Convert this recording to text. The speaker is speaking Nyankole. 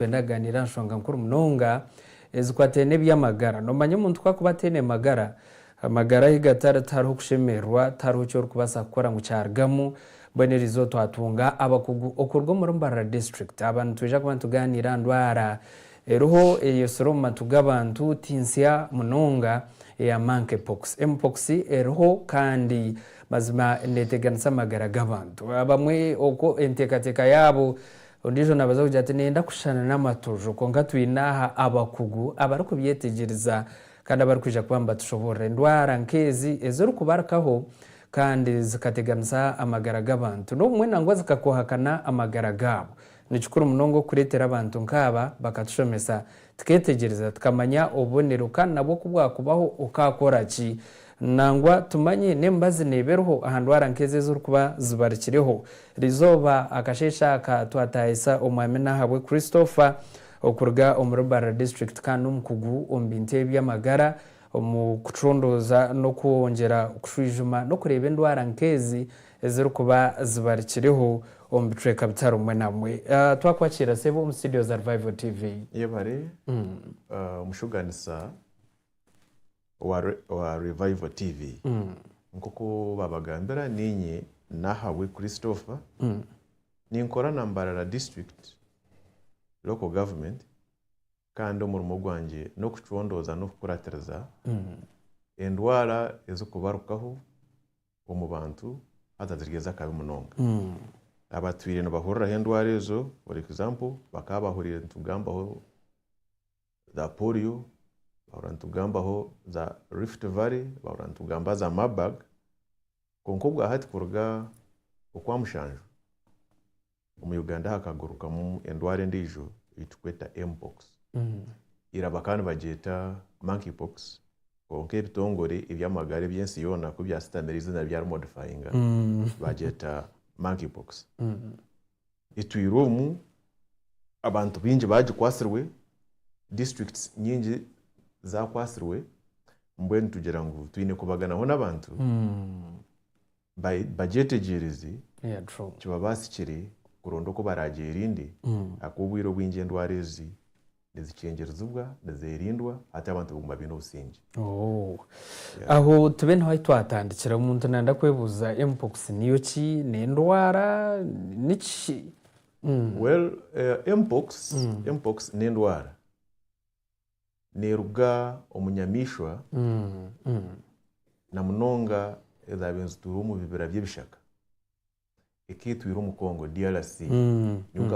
Twende aganiire aha nshonga nkuru munonga ezikwataine n'eby'amagara. Noomanya omuntu ku akuba ataine magara, amagara ye gatari, tihariho kushemererwa, tihariho ki orikubaasa kukora ngu kyarugamu. Mbwenu eri izooba twatunga abakugu okuruga omuri Mbarara District. Aba nitwija kuba nitugaaniira aha ndwara eriho eyeyotsire omu matu g'abantu ti nsya munonga eya Monkey Pox. Mpox eriho kandi mazima neeteganisa amagara g'abantu abamwe oku enteekateeka yaabo Ondiijo naabaza kugira ati, Niinyenda kushushana n'amatuju. Kwonka twine aha abakugu abarikubyetegyereza kandi abarikwija kuba nibatushoboorora endwara nk'ezi ezirikubarikaho kandi zikateganisa amagara g'abantu n'obumwe nangwa zikakoohakana amagara gaabo. Ni kikuru munonga okureetera abantu nk'aba bakatushomesa Tukeetegyereza, tukamanya obubonero kandi nabwo ku bwakubaho okaakora ki? Nangwa tumanye n'emibazi neeba eriho aha ndwara nk'ezi ezirikuba zibarikireho. Erizooba, akasheeshe aka, twataahisa Omwami Nahabwe Christopher okuruga omuri Barra District kandi n'omukugu omu bintu eby'amagara omu kucundooza n'okwongyera kushwijuma n'okureeba endwara nk'ezi ezirikuba zibarikiriho omu bicweka bitarumwe namwe. Twakwakiira sebo omu studio za Revival TV. Yebare omushuganisa wa Revival TV. Nkoku babagambira ninye Nahabwe Christopher ninkora na Mbarara District Local Government kandi omurimo gwangye nokucondooza nokukuratiriza endwara ezikubarukaho omu bantu haza nizigyenza akabi munonga. Abatwire nibahuriraho endwara ezo for example bakaba bahurire nitugambaho za polio, bahurira nitugambaho za rift valley, bahurira nitugambaho za marburg, kwonka obwahati kuruga okwamushanju. Omu Uganda hakagarukamu endwara endiijo ei turikweta Mpox. Ira bakaba nibagyeta Monkeypox kwonka ebitongore eby'amagara eby'ensi yoona ku byasitamire eiziina byari modifyinga baagyeta Monkeypox. Itwire omu, abantu baingi baagikwatsirwe, districts nyingi zaakwatsirwe, mbwenu tugira ngu twine kubaganaho n'abantu ba- bagyetegyereze Yeah, true. kibabaasikire kuronda oku baraagyerinde ahakuba obwire obwingi endwara ezi nizikyengyerezibwa, nizeerindwa hati abantu baguma baine obusingye. Oh. Aho tube niho ahi twatandikira. Omuntu nanda kwebuuza mpox niyo ki? N'endwara? Niki? Mm. Well, eh, mpox, mpox n'endwara neeruga omu nyamaishwa na munonga ezaabaire nizituura omu bibira by'ebishaka eka etwire omu Congo, DRC.